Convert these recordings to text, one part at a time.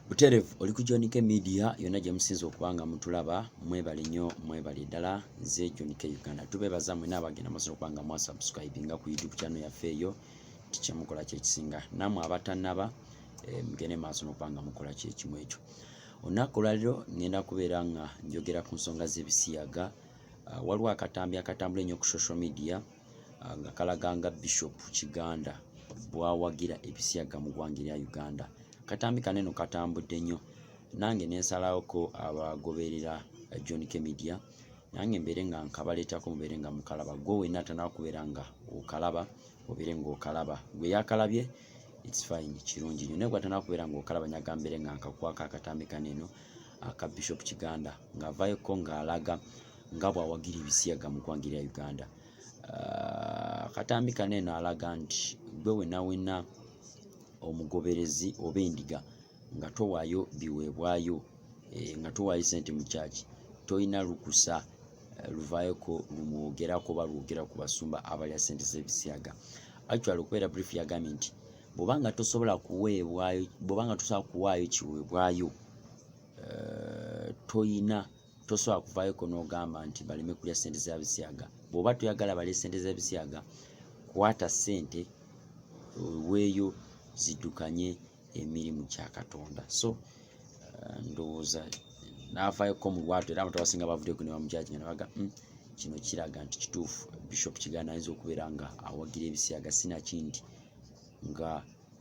buterevu oli ku John K Media yonna gye musinze okuba nga mutulaba mwebale nnyo mwebale ddala nze John K Uganda tubeebaza mwe n'abagenda masobola okuba nga mwasubscribinga ku YouTube channel yaffe eyo nti kye mukola kye kisinga namwe abatannaba eh, mugende maaso n'okuba nga mukola kye kimu ekyo olunaku olwaliro ngenda kubeera nga njogera ku nsonga z'ebisiyaga ah, waliwo akatambi akatambula ennyo ku social media nga kalaga nga Bishop Kiganda bwawagira ebisiyaga mu ggwanga erya Uganda. Akatambi kano eno katambudde nnyo nange ne nsalawoko abagoberera eh, John K Media nange mbeere nga nkabaleetako mubeere nga mukalaba gwe wenna atanaba kubeera nga okalaba obeere ng'okalaba gwe yakalabye it's fine kirungi nnyo naye gwatanaba kubeera ng'okalaba nyaga mbeere nga nkakwako akatambi kano eno aka Bishop Kiganda ng'avaayoko ng'alaga nga bw'awagira ebisiyaga mu ggwanga erya Uganda. Ah, akatambi kano eno alaga nti gwe wenawena omugoberezi oba endiga nga towaayo biweebwayo eh, nga towaayo sente mu kyaki tolina lukusa eh, luvaayoko lumwogerako oba lwogera ku basumba abalya sente z'ebisiyaga actual okubeera brief yagambye nti bwobanga tosobola kuweebwayo bwobanga tosobola kuwaayo kiweebwayo eh, toyina tosobola kuvayoko nogamba nti baleme kulya sente za bisiyaga bwoba toyagala balye sente za bisiyaga kwata sente weeyo zidukanye emirimu kya katonda so uh, ndowooza navayoko mu lwatu era abantu abasinga bavudeko nebamujaji nga nabaga hmm, kino kiraga nti kituufu bishop kigana ayinza okubeera nga awagira ebisiyaga sinaki nti nga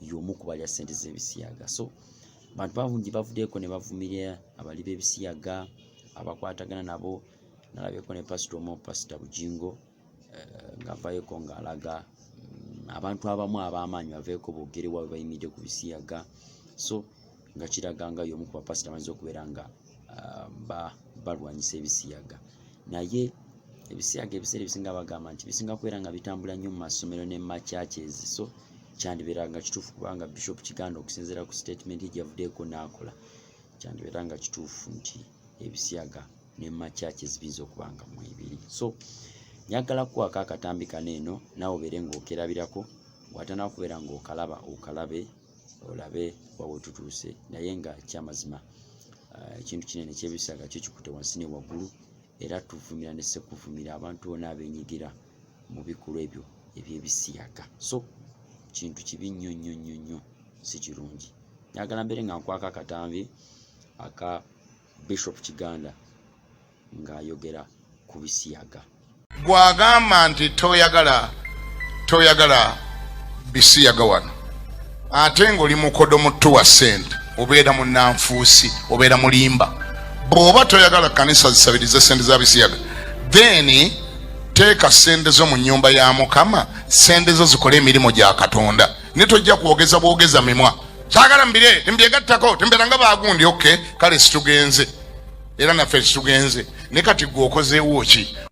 y'omu ku balya ssente z'ebisiyaga so bantu bangi bavuddeko ne bavumirira abali b'ebisiyaga abakwatagana nabo nalabyeko ne pasita omu pasita bujingo eh, ng'avayeko ng'alaga mm, abantu abamu ab'amaanyi baveeko boogere waabwe bayimiridde ku bisiyaga so nga kiraga nga y'omu ku bapasita amayinza okubeera nga ah, balwanyisa ebisiyaga naye ebisiyaga ebiseera ebisinga bagamba nti bisinga kubeera nga bitambula nnyo mu masomero ne mu machurches so kyandibeera nga kituufu kubanga bishop kiganda okusinziira ku statement gyeyavuddeeko n'akola kyandibeera nga kituufu nti ebisiyaga ne mu machurches biyinza okuba nga mwebiri so njagala kukwako akatambi kano eno nawe obeere ng'okerabirako watanaba kubeera ng'okalaba okalabe olabe wawe tutuuse naye nga kyamazima ah, ekintu kinene kyebisaga kyo kikute wansi ne waggulu era tuvumira ne sekuvumira abantu bona abenyigira mu bikolwa ebyo ebyebisiyaga so kintu kibi nnyo nnyo nnyo nnyo si kirungi nyagala mbere nga nkwaka akatambi aka bishop kiganda ng'ayogera ku bisiyaga gwagamba nti toyagala toyagala bisiyaga wano ate ng'oli mukodo muttu wa ssente obeera munanfuusi obeera mulimba bw'oba toyagala kanisa zisabirize ssente za bisiyaga then teeka ssente zo mu nnyumba ya mukama ssente zo zikole emirimu gya katonda ne tojja kwogeza bwogeza mimwa sagala mbire tembyegattako temberanga bagundi ok kale situgenze era naffe situgenze ne kati gwe okozeewo ki